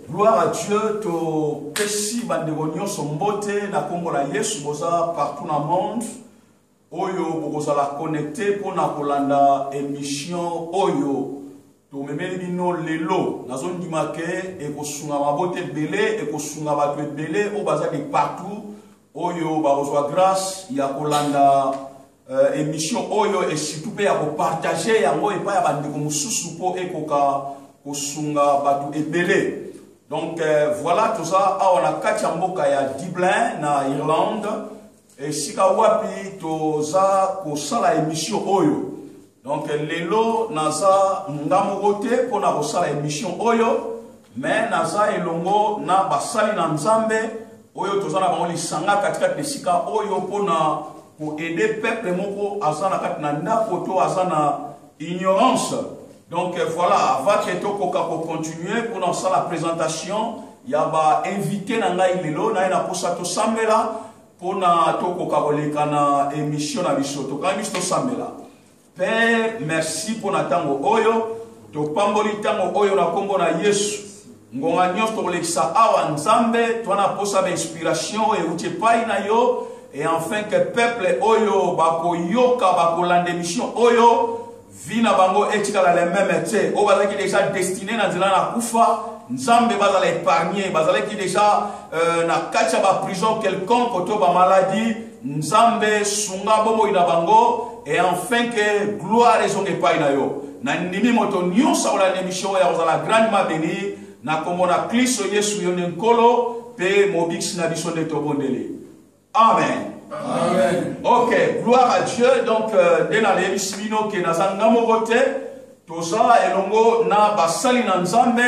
Gloire à Dieu, to pesi bandeko nyonso mbote na kombo na Yesu boza partout na monde oyo bokozala connecte mpo na kolanda emission oyo tomemeli bino lelo nazondima ke ekosunga mabota ebele ekosunga bato ebele oyo baza de partout oyo bakozwa grace ya kolanda uh, emission oyo esitu mpe ya kopartage yango epai ya bandeko mosusu mpo ekoka kosunga bato ebele donc uh, voilà toza awa na kati ya mboka ya dublin na irlande esika wapi toza kosala emission oyo Donc lelo naza nga moko te mpo na kosala emission oyo mais naza elongo na basali na Nzambe oyo toza na bango lisanga katikati na esika oyo mpo na koede peuple moko aza na kati na ndako to aza na ignorance donc voilà avant ke tokoka kocontinue mpo na kosala présentation ya bainvité na ngai lelo naye nakosa tosambela Mpo na tokoka koleka na emission na biso, tokangi biso tosambela. Père, merci mpo na ntango oyo. Topamboli ntango oyo na nkombo na Yesu. Ngonga nyonso tokolekisa awa Nzambe, twa na mposa bainspiration oyo euti epai na yo, et enfin que peuple oyo bakoyoka, bakolanda emission oyo, vie na bango etikala le meme te oyo bazalaki deja destine na nzela na kufa nzambe bazala épargne bazalaki deja euh, na kati ya baprison quelconque to bamaladi nzambe sunga bomoi na bango e enfin ke gloire ezonga epai na yo na ndimi moto nyonso akolanda emission oyo akozala grandement beni na nkombo na klisto yesu yo nde nkolo mpe mobikisi na biso nde tobondeli Amen. Amen. Ok, gloire à Dieu. Donc, euh, nde naleyebisi bino ke naza nga moko te toza elongo na basali na nzambe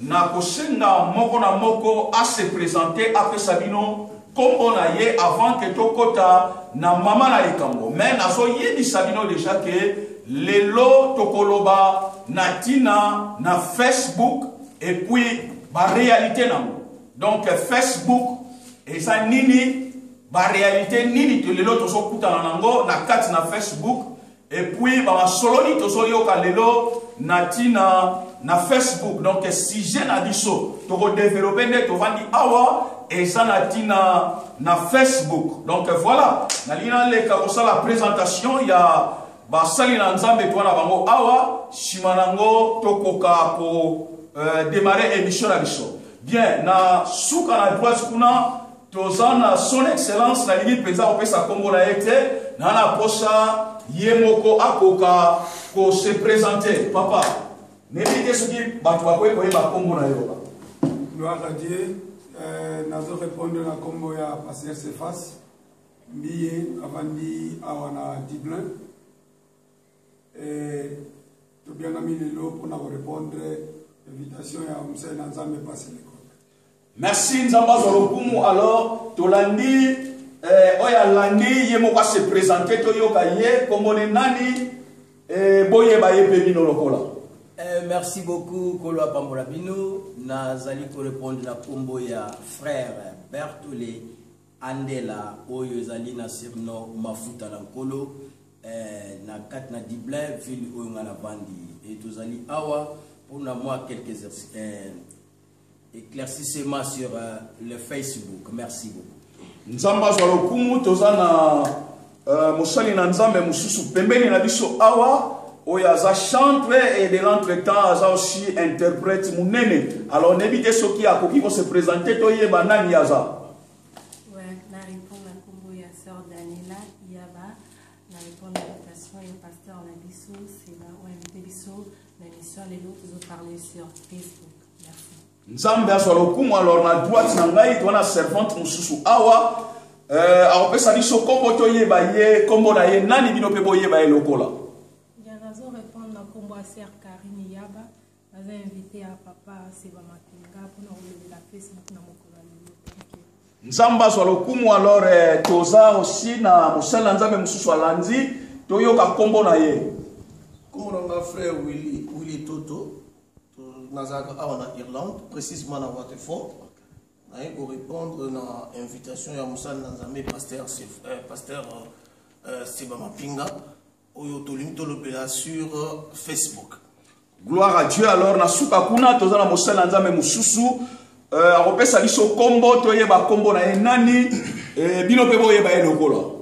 na kosenga moko na moko ase présente apesa bino nkombo na ye avant ke tokɔta na mama na likambo me nazoyebisa bino deja ke lelo tokoloba na ntina na facebook epuis barealité na yango donc facebook eza nini barealité nini to lelo tozokutana nango na kati na facebook epuis bamasolo nini tozoyoka lelo na ntina na facebook donc sujet na biso tokodevelope nde tovandi awa eza na ntina na facebook donc voilà nalingi naleka kosala présentation ya basali na nzambe toa na bango awa nsima na yango tokoka ko euh, démarrer émission na biso Bien, na suka na droite kuna toza na son excellence na lingi penza kopesa kombo na ye te na na posa ye moko akoka ko se présenter papa nebi te soki bato bakoki koyeba kombo na yo gloire à Dieu euh, nazo répondre na kombo ya pasteur Cephas mbiye avandi awa na Dublin Eh, tobiangami lelo mpo na korepondre invitation ya mosali na nzambe pasi lekoka merci nzambe azwa lokumu alors tolandi eh, oyo alandi ye moko asepresente toyoka ye kombone nani eh, boyeba ye mpe bino lokola eh, merci beaucoup kolo apambola bino nazali korepondre na nkombo ya frère bertole Andela oyo ezali na surnom Mafuta na Nkolo eh, na kati na Dublin, ville oyo nga na vandi. Et tozali awa pour na moi quelques eh, éclaircissements sur eh, le Facebook. Merci beaucoup. Nzambe azwa lokumu, toza na Euh, mosali na nzambe mosusu pembeni na biso awa oyo aza chantre et de l'entretemps aza aussi interprète monene alors nayebi te soki akoki kose présente toyeba nani aza lelo tozoparle sur facebook merci Nzambe azwa lokumu alors na droite na ngai toa na servante mosusu awa euh, akopesa biso nkombo toyeba ye nkombo na ye nani bino mpe boyeba ye lokola naza invité ya papa seba makinga mpona kolobela facebook na mokolo ya lelo nzambe azwa lokumu alors eh, toza osi na mosali na nzambe mosusu alandi toyoka nkombo na ye nkombo na nga frère willi willi toto Nazalaka awa na Irlande, precisement na Waterford. Naye ko répondre na invitation ya mosali na Nzambe pasteur euh, pasteur euh, Seba Mapinga oyo tolingi tolobela sur euh, Facebook. Gloire à Dieu alors na suka kuna toza na mosali na Nzambe mosusu euh, akopesa biso kombo toyeba kombo na ye nani eh, bino mpe boyeba ye lokola.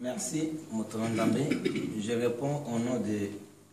Merci moto na Nzambe. Je réponds au nom de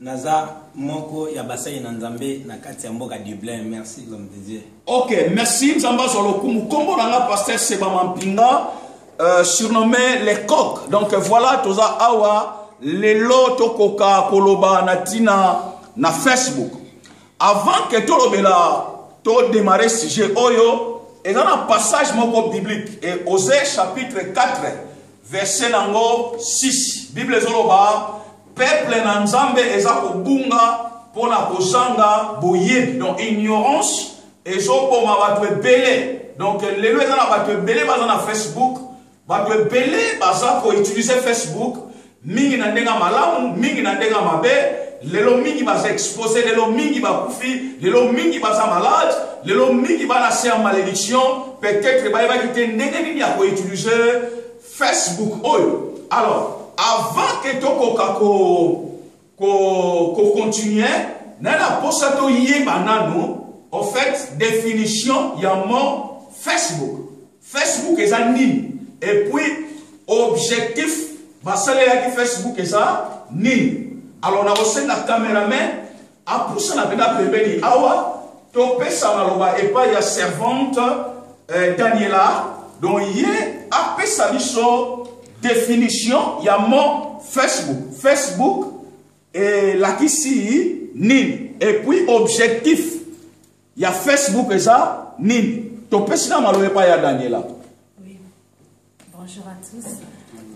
Naza moko ya basali na Nzambe na kati ya mboka Dublin. Merci l'homme de Dieu. Ok, merci Nzambe azwa lokumu. Kombo na nga Pasteur Seba Mampinga, euh, surnommé les coq. Donc voilà, toza awa lelo tokoka koloba na tina na Facebook. Avant que tolobela to démarrer sujet oyo, eza na passage moko biblique et Osée chapitre 4 Verset nango 6. Bible ezoloba peuple na Nzambe eza kobunga pona kozanga boyebi. Donc ignorance ezoboma bato ebele. Donc lelo eza na bato ebele baza na Facebook, bato ebele baza ko utiliser Facebook mingi na ndenge malamu, mingi na ndenge mabe. lelo mingi baza expose lelo mingi bakufi lelo mingi baza malade lelo mingi bana se ya malediction peut-être bayebaki te ndenge nini ya koutilize facebook oyo alors avant ke tokoka kocontinue naye na mposa toyeba nano au fait définition ya mo facebook facebook eza nini et puis objectif basalelaki facebook eza nini alors nakosenga cameraman Apusana pena pembeni awa topesa maloba epai ya servante eh, Daniela donc ye apesa biso definition ya mot Facebook. Facebook elakisi nini et puis objectif ya Facebook eza nini topesi na maloba epai ya Daniela. Bonjour à tous.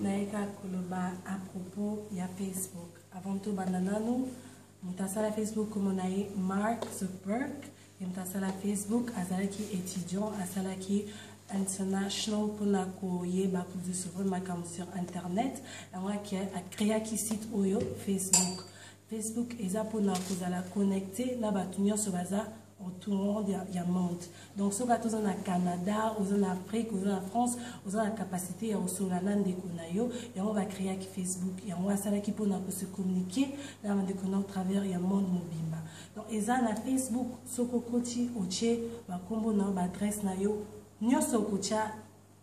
Naika Koloba à propos ya Facebook. Avant tout, bananano, mutasala Facebook comme on a eu Mark Zuckerberg. Et mutasala Facebook, azalaki étudiant, azalaki international pona koyeba kudu souvre makambo sur internet. Yango akeaki site oyo Facebook. Facebook eza pona kozala connecte na batu nyonso baza entourant ya, ya monde donc soki ata oza na canada oza na afrique oza na france oza na capacité ya kosolola na ndeko na yo yango bacreaki facebook yango asalaki mpona kose communiquer na bandeko na travers ya monde mobimba donc eza na facebook soki okoti otie bankombo na yo baadresse na yo nyonso okotya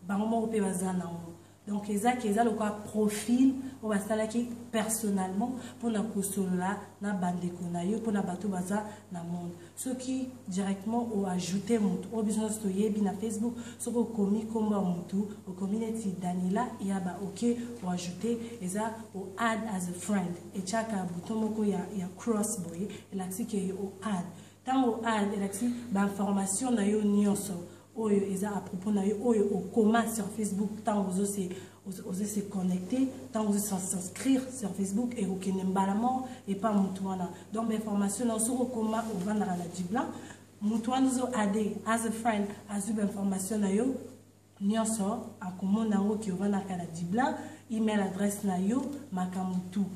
bango moko mpe baza na yango donc eza ke eza lokola profil oyo basalaki personnellement mpona kosolola na bandeko na yo mpona bato baza na monde soki directement oajoute motu oyo biso nyonso toyebi na facebook soki okomi nkombo ya motu okomi neti daniela ya ba oke oajoute eza oad as a friend etiaka bouton moko ya, ya cross boye elakisi ke oad ntango oad elakisi bainformation na yo nyonso oyo eza à propos na yo oyo okoma sur facebook ntango ozo se ozo se connecter ntango ozo s'inscrire sur facebook ekokende mbala moko epa motu wana donc bainformation nao soki okoma ovandaka na diblan motu wana ozo ade as a friend azwi bainformation na yo nyonso akomona yango ki ovandaka na diblan email adresse na yo makambo tout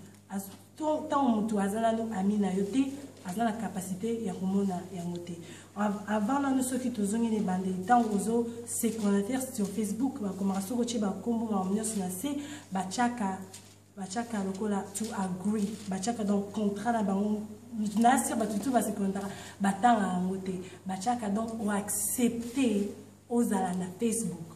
to ntango moto aza nanu ami na yo te aza na capacité ya komona yango te avant nanu soki tozongi na ebandeli ntango ozo se connecter sur facebook bakomaka soki otye bakombo makambo nyonso na se batyaka batyaka lokola to agree batyaka donc contrat na bango nasi bato tu base connectaka batanga yango te batyaka donc oaccepte ozala na facebook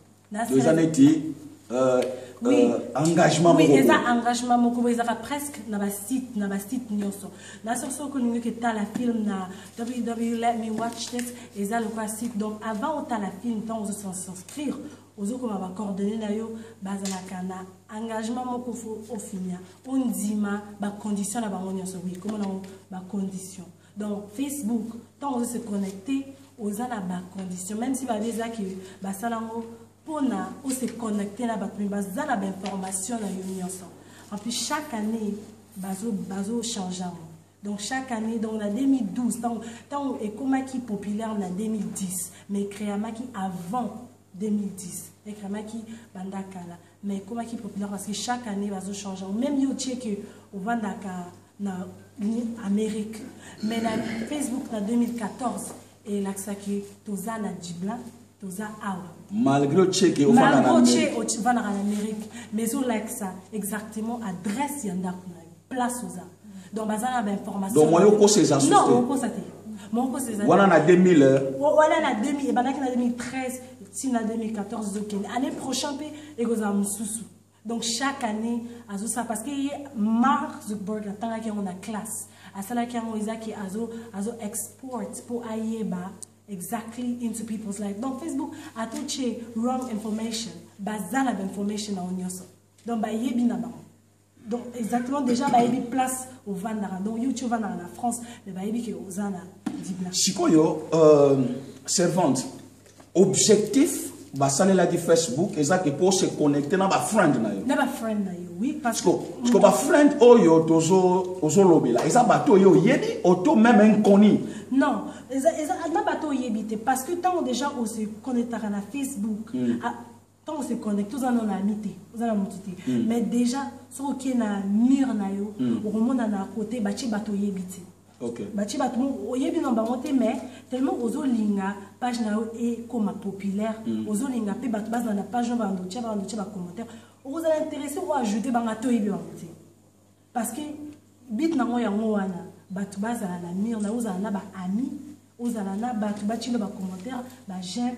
to eza neti euh, oui. euh, engagement oui, eza engagement moko boye ezaka presque na basite na basite nyonso na soki soki olingi oke tala film na ww let me watch this eza lokola site donc avant otala film ntango ozo s'inscrire ozokoma bacoordonne na yo bazalaka na engagement moko fo ofinia ondima bacondition na bango nyonso oui komona yango bacondition donc facebook ntango ozo se connecte oza na bacondition même si babi eza ke basala yango mpona ose connecte na bato me baza na bainformation na yo nyonso en plus chaque année bazochange yango donc chaque année donc na 2012 ntango ekomaki populaire na 2010 mais créamaki avant 2010 ekramaki banda kala mais ekomaki populaire parce que chaque année bazo change yango même yo otie ke ovandaka na amérique mais na facebook na 2014 elakisaki toza na jibla toza awa malgré ocheke ofandaka na amérique mais ezolakisa exactement adresse ya ndako na place oza donc baza na ba information donc moyo kosa eza sote non okosa te moyo kosa eza wana na 2000 euh. wana na 2000 ebandaki na 2013 ti na 2014 ezokende année prochain mpe ekozala mosusu donc chaque année azosala parce que ye mark zuckerberg atangaki yango na classe asalaki yango ezaki azo azo export mpo ayeba exactly into people's life donc facebook atotie wrong information baza na bainformation na yo nyonso donc bayebi na bango donc exactement déjà bayebi place ovandaka donc yo ti ovandaka na france mais bayebi ke oza na dibla sikoyo euh, servante objectif basalelaki facebook eza ke mpo se connecte na bafriend na yo na bafriend na yo oui parce que parce que bafriend oyo tozo ozolobela eza bato oyo oyebi oto même inconnu non eza eza na bato oyebi te parce que ntango déjà ose connectaka na facebook mm. ntango se connecte oza nano na ami te oza na motu te mm. mais déjà soki okie na mur na yo mm. okomona na kote batie bato oyebi te okay. batie bato oyebi na bango te mais tellement ozolinga page na yo ekoma populaire mm. ozolinga mpe bato bazala na page na bando tia bando tia bacommentaire okozala intéressé oajoute banga toyebi bango te parce que bit nango yango wana bato bazala na mur na yo ozala na baami ozala na bato batielo bacommentaire bageme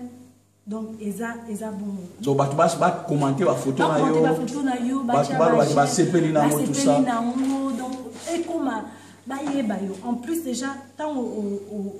donc eza eza bongo donc bato basi bakomante bafoto na yo bafoto na yo bato balobaki basepeli na yango tusa na yango donc ekoma bayeba yo en plus déjà ntango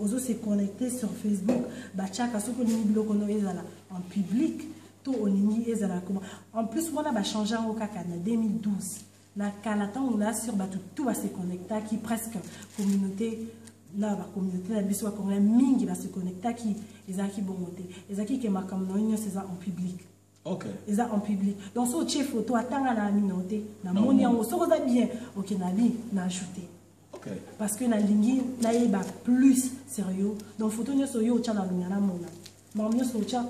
ozo se connecter sur facebook batiaka soki olingi biloko no ezala en public to olingi ezala koma en plus wana bachange yango kaka na 2012 Na kala tango na sur batu tout ba se connectaki presque communauté na ba communauté na biso ba congolais mingi ba se connectaki ezalaki bongo te ezalaki ke makambo na yo nyonso eza en public okay. eza en public donc soki otie photo atanga na amino te namoni yango soki oza bien oke na bi na ajoute Okay. Parce que nalingi nayeba plus sérieux. Donc photo nyoso yo otya na longa na mona. Makambo nyoso otya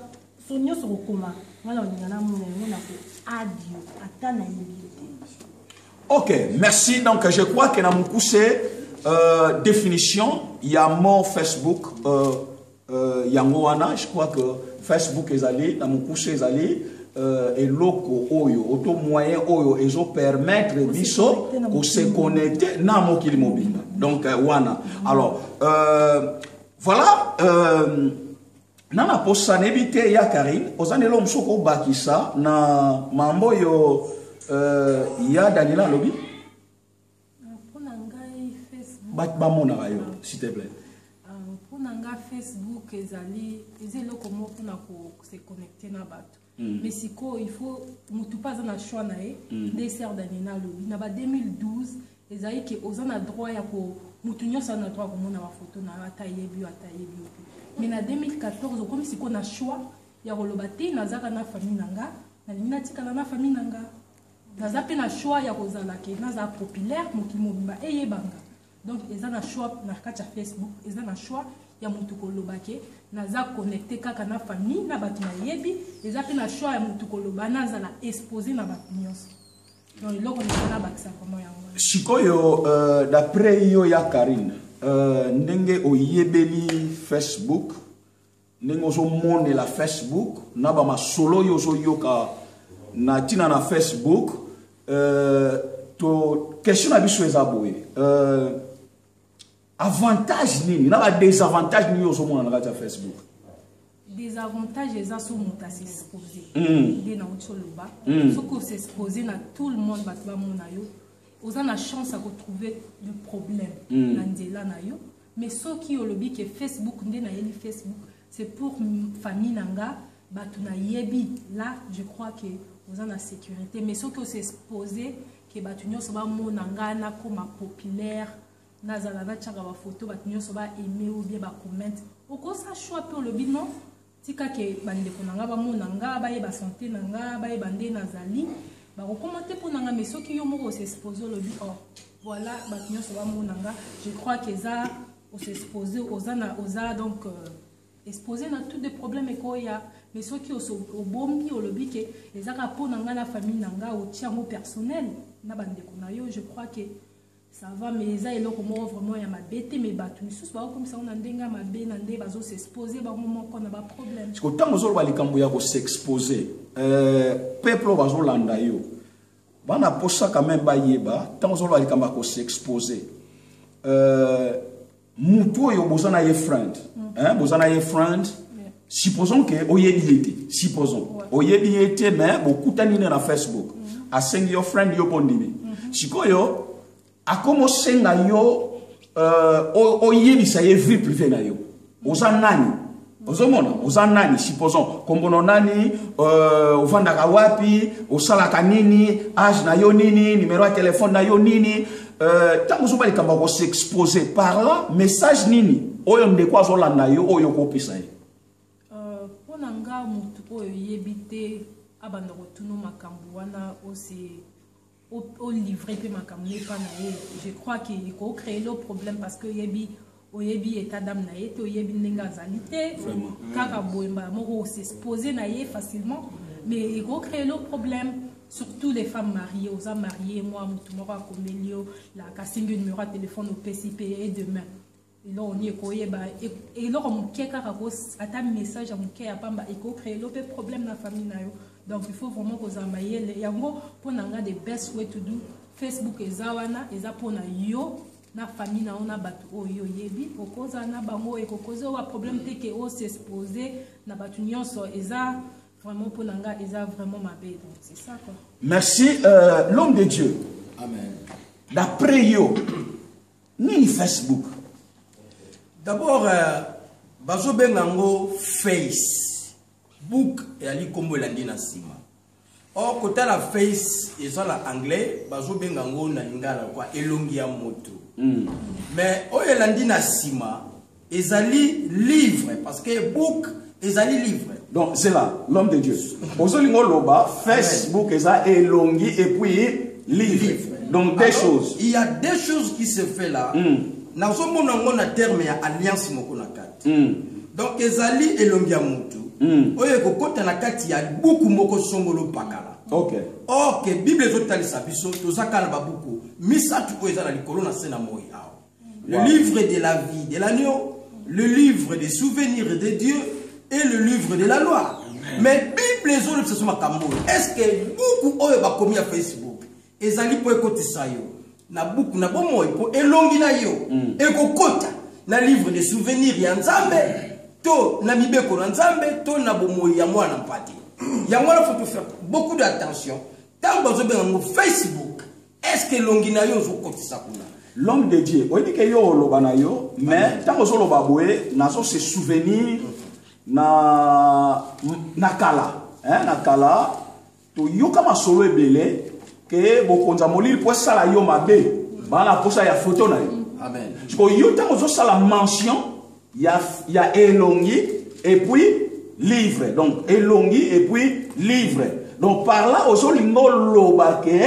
so nyoso kokoma nga na longa na mona yango na ko adio ata nayebi yo te. Ok, merci. Donc je crois que na mokuse euh, définition ya mot Facebook euh, Euh, yango wana je crois que facebook ezali na mokuse ezali euh, eloko oyo oto moyen oyo ezo permettre biso kosekonecte na mokili mobimba donc euh, wana alors euh, voilà euh, na na posa nayebi te ya karine oza na eloko mosusu okobakisa na mambo oyo euh, ya daniela alobi batu bamonaka yo s'il te plaît mpo na nga facebook ezali eza eloko moko mpona kose connecte na bato mm. mais sikoyo il faut motu mpe aza na choix na ye mm. nde ser danina alobi na ba 2012 ezali ke oza na droit ya ko motu nyonso aza na droit ya komona bafoto na yo ata yebi yo ata yebi yo te mais na 2014 okomi sikoyo na choix ya koloba te nazaka na famille na nga nalingi natikala na famille na nga Naza pe na choix ya kozala ke naza populaire mokili mobimba eyeba nga. Donc eza na choix na kati ya Facebook, eza na choix ya mutu koloba ke naza connecte kaka na famille na batu nayebi, eza pe na choix ya mutu koloba nazala expose na batu nyonso. Donc eloko naza na bakisa vraiment yango. Sikoyo euh, d'après yo ya Karine, euh, ndenge oyebeli Facebook ndenge ozomonela facebook na bamasolo oyo ozoyoka na ntina na facebook euh, to question na biso eza boye euh, avantage nini na badesavantage nini ozomona na kati ya facebook desavantage eza so moto asexpose hmm. nde nauti oloba hmm. soki osexpose na tout le monde bato bamona yo oza na chance ya kotrouve le problème hmm. na nzela na yo Mais soki olobi ke Facebook nde nayeli Facebook c'est pour famille na nga bato nayebi là je crois que oza na sécurité mais soki ose expose ke bato nyonso bamona nga nakoma populaire nazala natiaka bafoto bato nyonso ba aime ou bien bacommente okosa choix mpe olobi non Tika que ba ndeko na nga ba mona nga, ba yeba sante na nga, ba yeba nde na zali. Ba ko koma te pona nga mais soki yo moko o s'expose olobi oh voilà batu nionso ba mona nga, je crois que eza o s'expose oza na oza donc euh, expose na tout des problèmes ekoya mais soki obombi olobi ke eza kaka mpo na ngai na famille na ngai otia yango personnel na bandeko na yo je crois ke Ça va mais eza eloko moko vraiment ya mabe te mais batu misusu ba komisa na ndenge ya mabe na nde bazo s'exposer bango moko na ba problème. Siko tango zolo ba likambo ya ko s'exposer euh peuple bazo landa yo bana posa quand même ba yeba tango zolo ba likambo ya ko s'exposer euh mutu oyo boza na ye friend mm. hein, boza na ye friend yeah. supposons ke oyebi ye te supposons ouais. oyebi ye te mais bokutani ne na facebook mm -hmm. asengi yo friend yo mpo ndimi mm -hmm. sikoyo akoma osenga yo uh, oyebisa ye vie privé na yo oza nani ozomona oza nani supposons kombono nani euh, ofandaka wapi osalaka nini age na yo nini numero ya telefone na yo nini ntango euh, ozoba likambo ya kosexpose par là message nini oyo ndeko azolanda yo oyo okopesa ye euh, mpo na nga motu oyo oyebi te abanda kotuna makambo wana ose o livre pe makambo na epa na ye je crois que eko cree lo problème parce que oyebi oyebi etat d'âme na ye te oyebi ndenge azali te kaka boye mbala moko osespose na ye facilement mais eko cree lo problème surtout les femmes mariées oza marie mwa motu moko akomeli yo la kasingi numero ya telefone opesi pe e demain eloko nini ekoyeba eloko moke kaka ko ata message ya moke ya pamba ekocree lo mpe problème na famille na yo donc il faut vraiment kozala mayele yango mpo na nga the best way to do facebook eza wana eza mpo na yo na famille na yo na bato oyo oyebi okozala na bango ekokoze owa problème te ke osexpose na bato nyonso eza vraiment mpo na nga eza vraiment mabe donc c'est ça quoi merci euh, l'homme de dieu amen d'après yo Nini Facebook? D'abord euh, bazo benga ngo face book eyali nkombo elandi na nsima or kotala face eza na anglais bazobenga yango na lingala kwa elongi ya moto mm. mais oyo elandi na nsima Ezali livre parce que book ezali livre. Donc c'est là l'homme de Dieu. Ozolingo loba Facebook eza elongi et puis livre. livre. Donc deux Alors, choses. Il y a deux choses qui se fait là. Mm. Nazomona ngo na terme ya alliance moko na kati. Mm. Donc ezali elongi ya mutu. Mm. Oyo ekokota na kati ya buku moko songolo pakala. Okay. Or que Bible ezotalisa biso tozaka na babuku misato oyo eza na likolo na se na moi awa. Le wow. livre de la vie de l'agneau, le livre des souvenirs de Dieu et le livre de la loi. Mais Bible ezolobisa so makambo oyo. Est-ce que buku oyo bakomi ya Facebook ezali mpo ekotisa yo na buku na bomoi mpo elongi na yo mm. ekokota na livre de souvenir ya Nzambe to na mibeko na Nzambe to na bomoi ya mwana mpate. Yango wana faut faire beaucoup d'attention. Tango bazobenga ngo Facebook est ce que elongi na yo ozokotisa kuna l'homme de dieu oyebi ke yo oloba na yo mais ntango ozoloba boye nazo se souvenir na, na kala eh, na kala toyoka masolo ebele ke bokonza molili mpo esala yo mabe bana mposa ya foto na yo sikoyo yo ntango ozosala mention ya, ya elongi et puis livre donc elongi et puis livre donc par là ozolinga oloba ke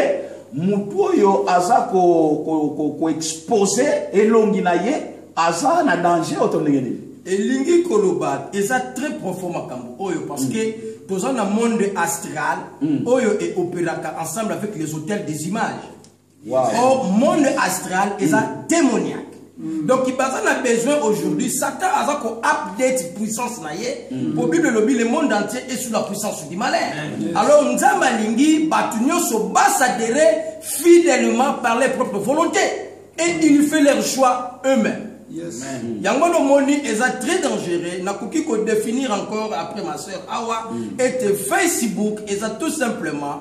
motu oyo aza koexpose ko, ko, ko elongi na ye aza na danger oto ndenge nini elingi koloba eza très profond makambo oyo parce mm. que toza na monde astral mm. oyo eopéraka ensemble avec les hôtels des images Wow. Au monde astral, ils ont démoniaque. Mm. donc baza na besoin aujourd'hui satan aza ko update puissance na ye mm. po bible elobi le monde entier est sous la puissance du malin mm. alors nzambe alingi bato nyonso basadere fidèlement par leur propre volonté et ils fait leur choix eux-mêmes Yes. yango wana omoni eza très dangereux nakoki kodéfinir encore après ma sœur awa mm. ete facebook eza tout simplement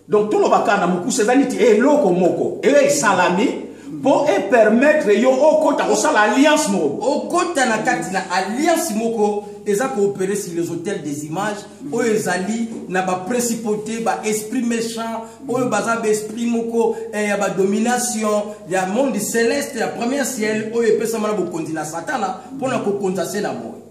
Donc toloba kaka na mokuse eza neti eloko moko eyo esalami mpo epermettre yo okota kosala alliance moko okota na kati na alliance moko eza koopere sur les hôtels des images oyo ezali na baprincipauté baesprit méchant oyo baza baesprit moko eh, ya badomination ya monde céleste ya premier ciel oyo epesama na bokonzi na satana mpo na kokonza se na moyo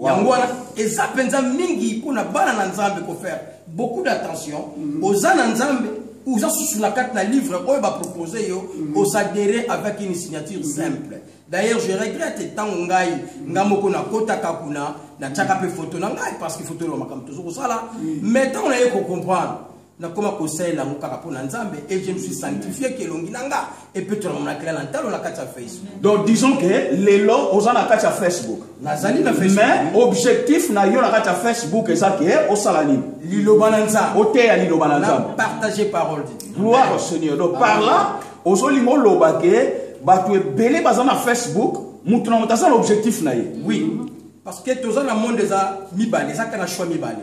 yango wana eza mpenza mingi mpo na bana na nzambe kofaire beaucoup d'attention mm. oza na nzambe oza susu na kati na livre oyo bapropose yo mm. osadere avec une signature mm. simple d'ailleurs je regrette ntango ngai ngai moko nakotaka kuna natyaka mpe foto na ngai parce que foto elwa makambo tozo kosala mais ntango naye kocomprendre nakoma kosalela yango kaka mpo na nzambe et je me suis sanctifié ke elongi na nga epetola mamonakela na ntalo na kati ya facebook donc disons ke lelo oza na kati ya facebook nazali na facebook mais objectif na yo na kati ya facebook eza ke osala nini liloba na nzambe oteya liloba na nzambe partage parole de dieu gloire au seigneur donc par là ozolinga oloba ke bato ebele baza na facebook moto na moto aza na objectif na ye oui parce que toza na monde eza mibale eza kaka na choix mibale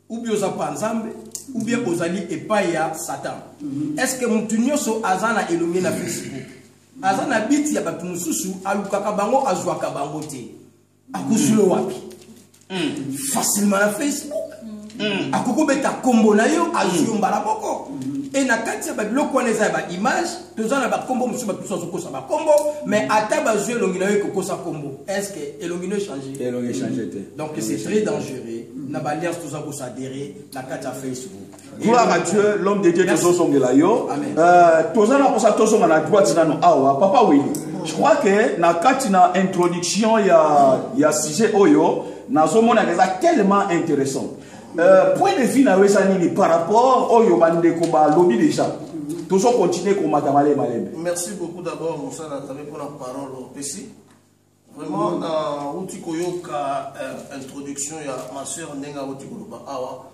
ou bien oza pa nzambe ou bien ozali epai ya satan mhm. est ce que motu nyonso aza na elongi na facebook aza na biti ya bato mosusu alukaka bango azwaka bango te akosulo mhm. wapi mhm. facilement na facebook akoki obeta nkombo na yo azwi yo mbala moko e na kati ya babiloko wana eza ya baimage toza na bakombo mosusu bato mosusu azokosa bakombo mais ata bazwi elongi na yo ekokosa kombo est ce que elongi no echange te donc c'est très dangereux na baalliance toza kosadere na kati ya facebook gloire à dieu l'homme de dieu tozozongela yo euh, toza na mposa tozonga na droite nano awa papa wili je crois que na kati na introduction ya, ya sujet oyo nazomona eza tellement intéressant Euh, point de vue na yo eza nini par rapport oyo bandeko balobi déjà tozo continue komata malebe malebe merci beaucoup d'abord mosala tabe mpona parole opesi vraiment nauti koyoka euh, introduction ya ma soeur ndenge auti koloba awa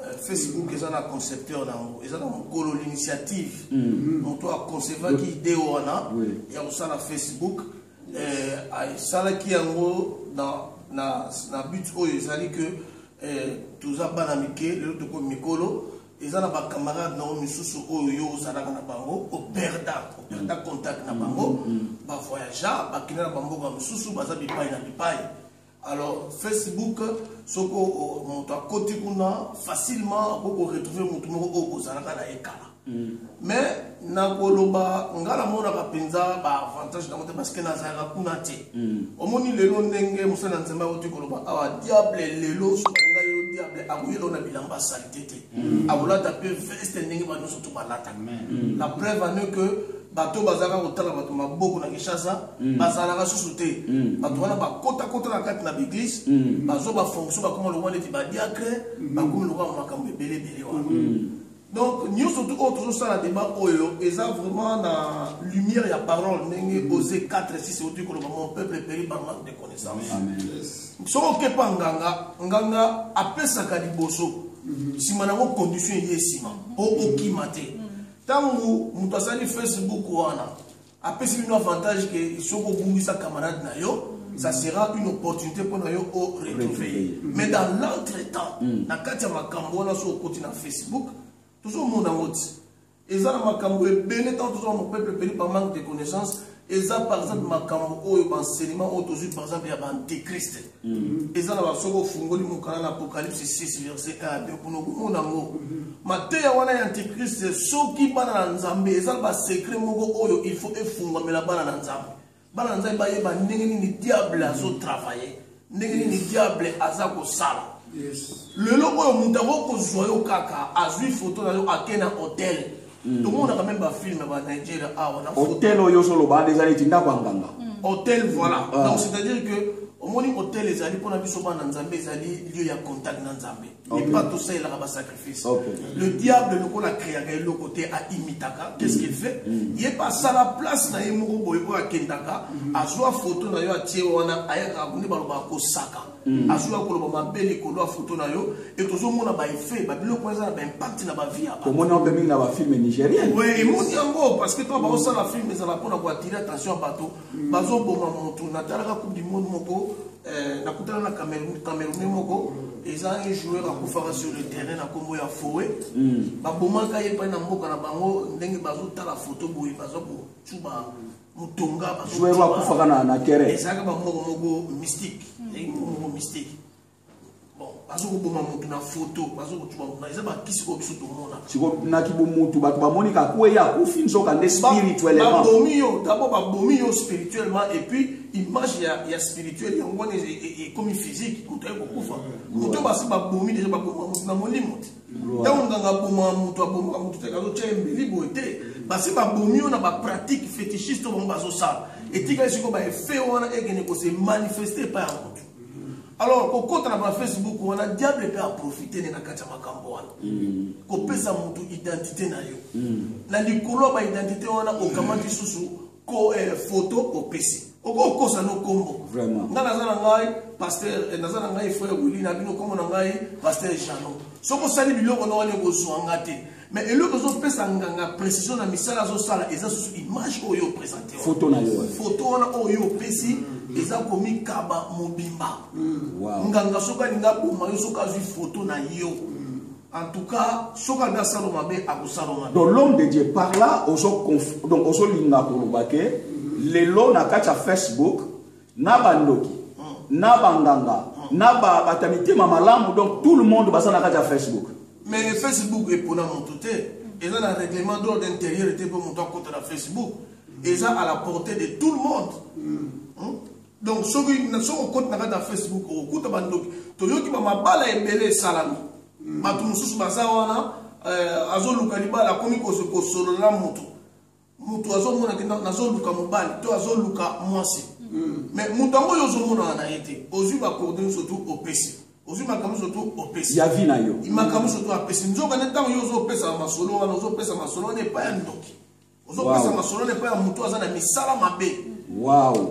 euh, facebook eza na concepteur na yango eza na mokolo l'initiative mm. moto aconcevaki idee wana ya kosala facebook eh, asalaki yango na, na, na but oyo ezali ke eh, toza bana mike lelo tokomi mikolo eza na bacamarade na yo misusu oyo yo ozalaka na bango operda operda contact na bango mm, mm, mm. bavoyagea bakenda na bamboka mosusu baza bipai na bipai Alors Facebook soko moto akoti kuna facilement akoki ko retrouver moto moko oyo bozalaka na ye kala Mm. mais nakoloba ngai namonaka mpenza baavantage nango te parceke nazalaka kuna te mm. omoni lelo ndenge mosali ya nzambe auti koloba awa ah, diable lelo soki ngai yo diable akoyela na bilamba salite te mm. akolata mpe veste ndenge banyoso to balataka la preuve ane que bato bazalaka kotala bato maboko na kinshasa mm. bazalaka susu te mm. bato wana bakotakota na kati na baeglise mm. bazwa bafonction bakoma lokwa neti badiacre bakomi lokwa makambo ebele ebele wana donc nyonso tu oyo tozosala deba oyo eza vraiment na lumière ya parole ndenge ose 4 6 oti koloba mon peuple peri par manque de connaissance soki okepa nganga nganga apesaka liboso nsima nango condition eye nsima mpo okima te Tango moto asali Facebook wana apesi bino avantage ke soki obungisa camarade na yo ça sera une opportunité pour nous au retrouver. Mais dans l'entretemps, mm. na kati ya makambo wana so okoti na Facebook, tozomona moti. Eza na makambo ebele ntango tozomona peuple ebele par manque de connaissance eza par exemple makambo oyo baenseignement oyo tozwi par exemple ya baantichrist mm-hmm. eza na basoki ofungoli mokala na apocalypse 6 verset 1 2 kuna okomona yango mm-hmm. mateya wana ya antichrist soki bana na nzambe eza na basecret moko oyo il faut efungwamela bana na nzambe bana na nzambe bayeba ndenge nini diable azotravaille mm-hmm. ndenge nini diable aza kosala lelo oyo moto yango kozwa yo kaka azwi foto na yo ake na hotel hmm. tomonaka meme bafilme ba nigeria awa ah, hotel oyo ozoloba deja neti ndako ya nganga hmm. hotel voilà ah. donc c'est à dire que omoni hotel ezali mpona biso bana nzambe ezali lieu ya contact na nzambe epa tosalelaka basacrifice le diable lokola akreaka eloko te aimitaka qu'est ce qu'il fait mm. Mm. ye mpe asala place na ye moko boye oyo akendaka mm. azwa foto na yo atie wana ayaka akuni balobaka kosaka azwaka koloba mabe likolo ya foto na yo e tozomona baeffet babiloko wana eza na baimpact na bavie ya omoni yango mpe mingi na bafilme nigérien emoni yango parce que to baosala filme ezala mpona koatire attention ya bato bazo boma mutu na talaka coupe du monde moko eh, na kutana na Cameroun Camerounais moko eza un joueur akufaka sur le terrain na kombo ya Foe mm. ba bomaka ye pa na mboka na bango ndenge bazo tala photo boye bazo ko chuba mutonga bazo joueur akufaka na na terrain eza ka ba moko moko mystique mm. moko mystique bazokoboma motu na foto bazokocuba mona eza bakisi oyo biso tomona sikonaki bomutu bato bamoni kakweya akufi nzoka nde spirituellement babomi yo dabord babomi yo spirituellement et puis image ya, ya spirituel yango wana ekomi physique moto aye kokufa moto basi babomi deja baboma moto na molimo te ntango nganga aboma moto abomaka moto te kazotya ye mbeli boye te basi babomi yo na bapratique fétichiste oyo bango bazosala etikali sikoyo baefe wana ekende kose manifeste epai ya moto alors kokota na ba facebook wana diable mpe aprofite nde na kati ya makambo wana mm. kopesa motu identité na yo mm. na likolo ya baidentité wana okamati susu ko eh, photo opesi okokosa no nkombo ngai naza na ngai paster eh, naza na ngai frère wili na bino nkombo na ngai paster jano soki osali biloko na wana ekozwa nga te mais eloko ezopesa nganga précision na misala azosala eza susu image oyo opresente foto na yo foto wana oyo opesi mm. eza komikaba mobimba mm. nganga soki alingi aboma yo soki azwi foto na yo mm. en tout cas soki alingi asala mabe akosala mabe donc l'homme de dieu par là donc ozolinga koloba ke lelo na kati ya facebook na ba ndoki na ba nganga na ba bata mitema malamu donc tout le monde baza na kati ya facebook mais facebook epona moto te eza na règlement d'ordre intérieur te mpo moto akota na facebook eza à la portée de tout le monde mm. hmm? donc soki soki okoti na kati ya facebook okokuta bandoki toyoki bamabala ebele esalami hmm. bato mosusu baza wana euh, azoluka libala akomi kosolola na moto mutu azomona ke nazoluka mobali to azoluka mwasi mais mutu yango oyo ozomonana na ye te ozwi bakorde nyonso tu opesi ozwi makambo nyonso tu opesi ya vi na yo makambo nyonso tu apesi nzoka nde ntango yo ozopesa masolo wana ozopesa masolo wana epai ya ndoki ozopesa masolo wana epai ya motu aza na misala mabe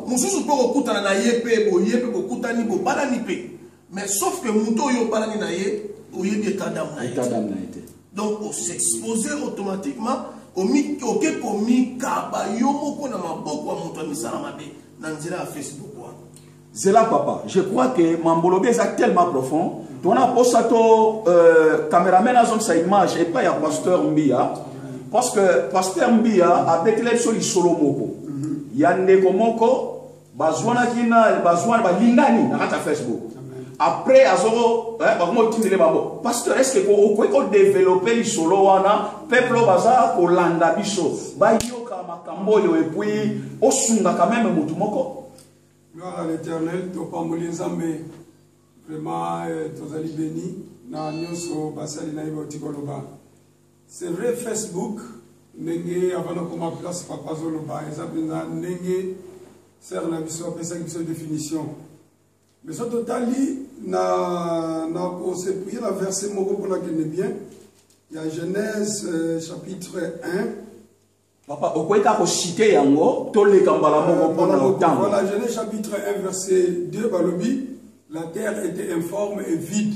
mosusu mpe okokutana na ye mpe boye mpe bokutani bobalani mpe Mais sauf que moto oyo obalani na ye oyebi état d'âme na ye. État d'âme na ye te. Donc o s'exposer automatiquement omi oke komikaba yo moko na maboko ya moto ya misala mabe na nzela ya Facebook wana. Zela papa, je crois que mambolobe eza tellement profond. Tona posa to euh, cameraman azongisa image epai ya pasteur Mbiya parce que pasteur Mbiya abetela biso lisolo moko ya ndeko moko bazwanaki na bazwani balingani na kati ya facebook après azoko eh, bakoma otindele bango pasteur estce que okoki kodevelope lisolo wana peuple oyo baza kolanda biso bayoka makambo oyo epuis osungaka meme motu moko gloire à l'éternel topamboli nzambe vraiment eh, tozali beni na nyonso basali na ye bauti koloba C'est vrai Facebook ndenge avant nakoma place papa azoloba eza mpenza ndenge sere na biso apesaki biso définition mais so totali na, na kosepuye na verset moko mpo nakende bien ya genèse euh, chapitre 1 papa okoki kaka kosite yango toleka mbala moko mpo na ntango voilà genèse chapitre 1 verset 2 balobi la terre était informe et vide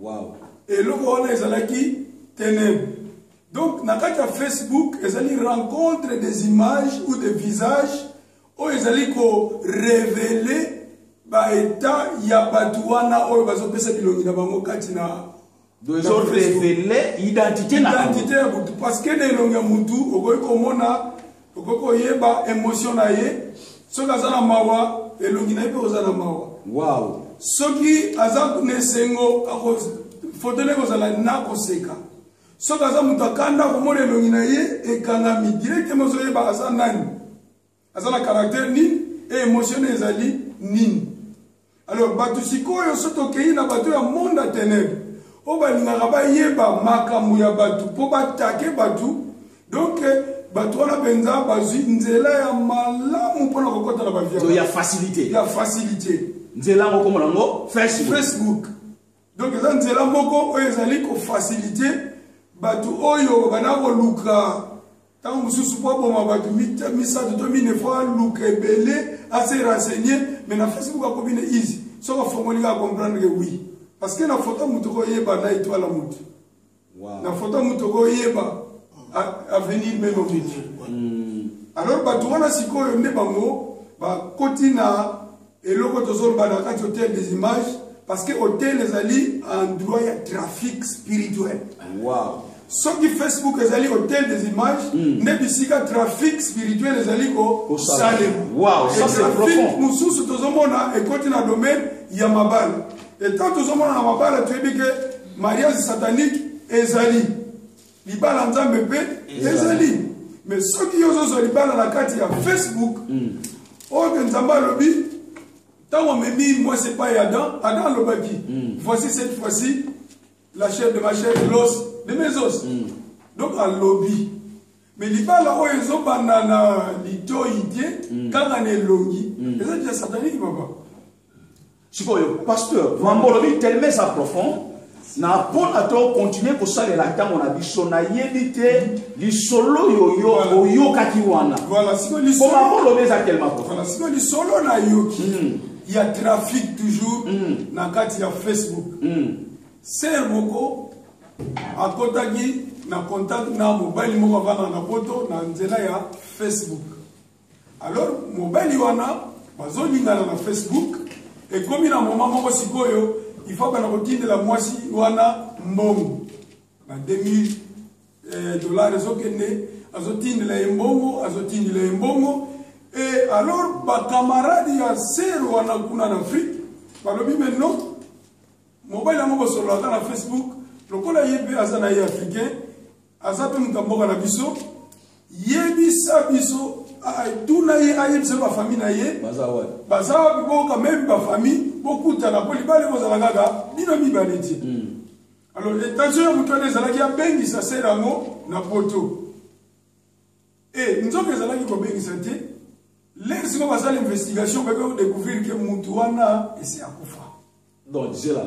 Wow. Eloko wana ezalaki tenèbre. Donc na kati ya Facebook ezali rencontre des images ou des visages oyo ezali ko révéler ba état ya bato wana oyo bazopesa bilongi na bango kati na ezoreveler identité na identité ya motu parce que na elongi ya motu okoki komona okoki koyeba emotion na ye soki aza na mawa elongi na ye mpe kozala na mawa wow. soki aza na esengo foto nde kozala na koseka soki aza moto akanda komona elongi na ye ekangami direktema ozoyeba aza nani aza na karaktere nini e emotion ezali nini Alors bato sikoyo so tokei na bato ya monde ya tenebre oyo balingaka bayeba makambo ya bato mpo batake bato donk bato wana mpenza bazwi nzela ya malamu mpo na kokɔta na baviaoya facilité ya facilité nzela yango komona yango facebook facebook donc eza nzela moko oyo ezali kofasilite bato oyo babanda koluka ntango mosusu mpo aboma bato misato to mine fo aluka ebele ase renseigne mai na facebook akomi na easy soki afongoli kaka comprendre ke oui parce que na foto moto koyeba na etoile ya moto wow. na foto moto okoyeba avenir meme okendi hmm. alors bato wana sikoyo nde bango bakoti na eloko tozoloba na kati hotel des images parce que hotel ezali endroit ya trafic spirituel wow. soki facebook ezali hotel des images hmm. nde bisika trafic spirituel ezali kosalematrafic mosusu tozomona ekoti na domaine ya mabala etant tozomona na mabala toyebi ke mariage satanique ezali libala nzambe mpe ezali mais soki yo ozozwa libala na kati ya facebook mm. oyo mpe nzambe alobi ntango amemi mwasi epai ya adam adam alobaki mm. voici cette fois-ci la chair de ma chair l'os de mes os mm. donc alobi me libala oyo ezobanda na litoi te kaka na elongi eza deja sataniki papa sikoyo pasteur mambo olobi teleme eza profond na mpona to continue kosalela ntango na biso nayebi te lisolo yoyo oyokaki wana po mambo olobi eza telema profond sikoyo lisolo nayoki hmm. ya trafic toujours hmm. na kati ya facebook hmm. ser moko akotaki na contact na mobali moko avanda na poto na nzela ya facebook Alors mobali wana bazolingana na Facebook ekomi na moma moko sikoyo il faut bana kotindela mwasi wana mbongo ba 2000 eh, dollars ezokende azotindela ye mbongo azotindela ye mbongo e alors bakamarade ya ser wana kuna na afrike balobi me non mobali yango bosololaka na facebook lokola ye mpe aza na ye africain aza mpe moto ya mboka na biso yebisa biso tuna ye ayebisa ba famille na ye baza wapi bo quand même ba famille bokutana mpo libala ekozala kaka bino mibale te hmm. alors etension ya moto wana ezalaki abengisa sere yango na poto e eh, nzoka ezalaki kobengisa te lere siko basala investigation babe kodécouvrir ke motu wana esi akufa donc zela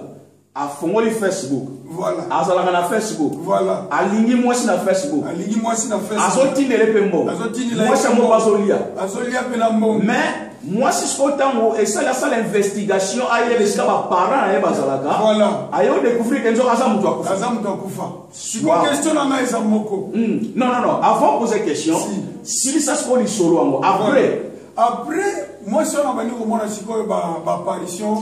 afongoli facebook voilà azalaka na facebook voilà alingi mwasi na facebook alingi mwasi na facebook azotindele mpe mbongo azotindela mwasi yango mpe azolia azolia mpe na mbongo mais mwasi sikoyo ntango esali asala investigation ayeba esika baparent na ye bazalaka voilà aye odécouvrir ke nzoka aza moto akufa aza moto akufa sikoyo question na ngai eza moko hmm. non non non avant poser question silisa sikoyo lisolo yango après après mwasi wana abandi komona sikoyo baapparition ba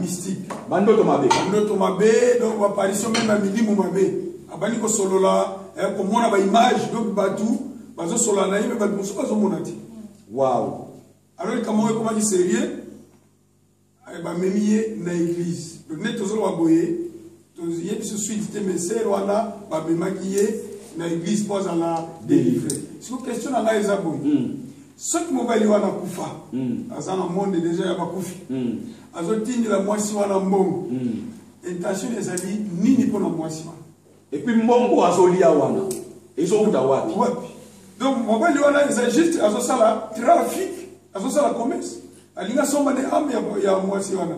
mystique bandoto mabe bandoto mabe donc baparisio meme ya milimu mabe abandi kosolola eh, komona baimage donc bato bazosolola na ye me bato mosusu bazomona te wow alors likambo yango ekomaki serieux eh, bamemi ye na église donc neti tozoloba boye toyebiso suite te mais sœur wana bamemaki ye na église mpo azala délivré siko question na ngai eza boye hmm. soki mobali wana kufa hmm. aza na monde déjà ya bakufi hmm. azotindela mwasi wana mbongo intention ezali nini mpo na mwasi wana epuis mbongo azolia wana ezowuta wapi wapi donc mobali wana eza juste azosala trafic azosala commerce alingi asomba nde ame ya mwasi wana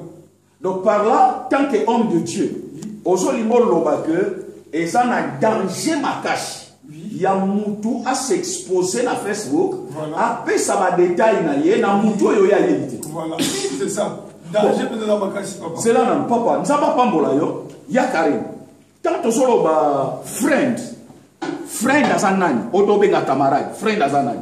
Donc par là, tant que homme de Dieu, ozo limbo loba que eza na danger makasi ya mutu a s'exposer na Facebook, a pesa ba détails na ye na mutu oyo ya yebite. Voilà, c'est ça. Danger peut être makasi papa. C'est là na papa, nzaba pambola yo, ya Karim. Tant ozo loba friend, friend aza nani? Oto benga camarade, friend aza nani?